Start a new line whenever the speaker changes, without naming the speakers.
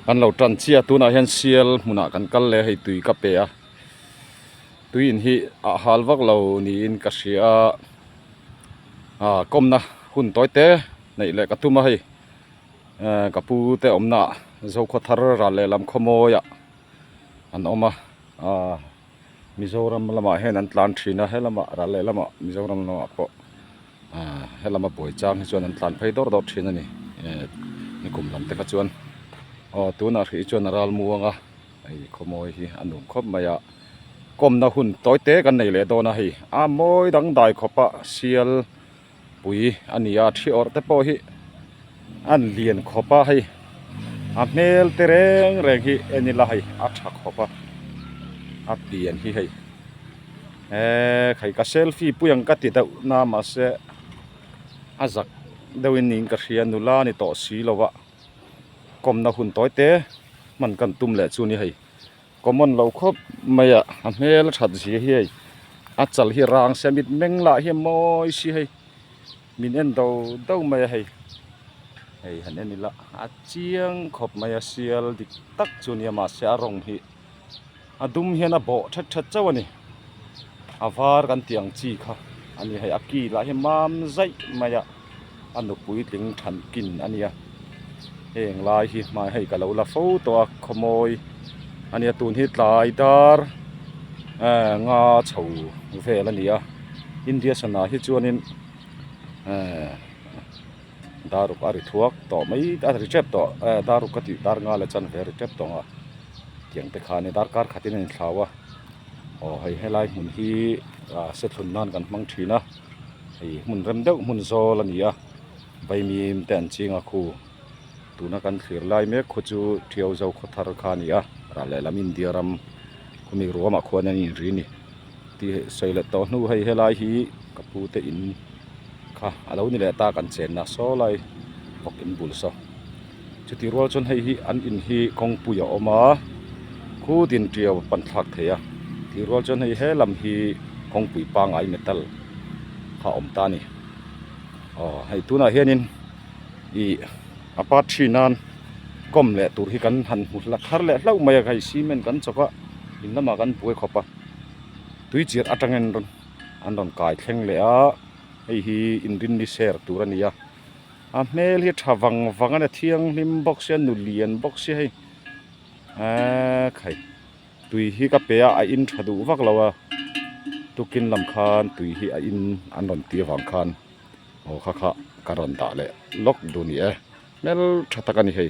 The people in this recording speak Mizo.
Kan lo tan chiah a tunah hian sial hmunah kan kal leh a hei tui ka pe a tui in hi a hal vak lo niin ka hria a ah kawmna hun tawi te neih leh ka tum a hei eh ka pu te awmna ah zokhua thar ral leh lam khawmawi ah an awm a ah Mizoram lamah hian an tlan thin a he lamah ral leh lamah Mizoram lamah pawh. Aaa helama buai chang hi chuan an tlan phei dawr dawr thin a ni ee nikum lam te kha chuan aw tunah hrih hi chuan a ral mu ang a hei khawmawi hi a nung khawp mai a kawmna hun tawi te kan nei leh dawn a hei a mawi dang dai khawpa sialpui a ni a ṭhi awrh te pawh hi a lian khawp a hei a hmel te reng reng hi en ila hei a ṭha khawp a a pian hi hei. he khaih ka selfie pui ang ka ti deuh na mahse a zak deuh in niin ka hria nula ni tawh si lo va kawm na hun tawi te hman kan tum leh chu ni hei ka mawn lo khawp mai a a hmel a that zia hi hei a chal hi rang semit meng lah hi mawi si hei. Min en do do mai a hei. Hei han en ila a chiang khawp mai a sial dik tak chu nia mahse a rawng hi a dum hian a bawh that that chauh a ni. A var kan tih ang chi kha a ni hei a kilah hi mam zaih mai a a nupui tling than kin a nia. heng lai hi hmai hei ka lo la fo tawh a khawmawi a nia tun hi tlai dar ehh nga chho vel a ni a India sanah hi chuanin ehh dar uk a ri thuak tawh mai a ri tep tawh ehh dar uk ka tih dar nga leh chuan ve a ri tep tawh ang a tiang te khan hi dar kar khatin a in thlau a aw hei helai hmun hi ahh se thlun nan kan hmang thin a hei hmun rem deuh hmun zawl a ni a. Baimi im te an ching a khu. Tuna kan thlir lai mek khu chu Thiau Zo khaw thar kha a ni a, rah leh lam India ram khaw mi ruah mah khuan an inri ni. Ti sawi let tawh hnu hei helai hi ka pu te in kha a lo ni leh ta kan chen na saw lai bawk in bul saw. Chuti rual chuan hei hi an in hi kawngpui a awm a, khu din tia a pan thlak thei a, tih rual chuan hei he lam hi kawngpui pangai metal kha awm ta a ni. aw hei tunah hianin ih a part three nan kawm leh tur hi kan han hmu hla thar leh hlauh mai a hei cement kan chawp a in lamah kan buai khawp a tui chiat atangin rawn an rawn kai thleng leh a hei hi inrin ni ser tur a ni a a hmel hi tha vang vang a ni a thianghlim bawk sia nulian bawk sia hei eeekkhaih. Tui hi ka pe a, a in tha duh vak lo a, tukin lam khan tui hi a in an rawn ti avang khan aw kha kha ka rawn dah leh lawk duh a ni e, hmel tha tak a ni hei.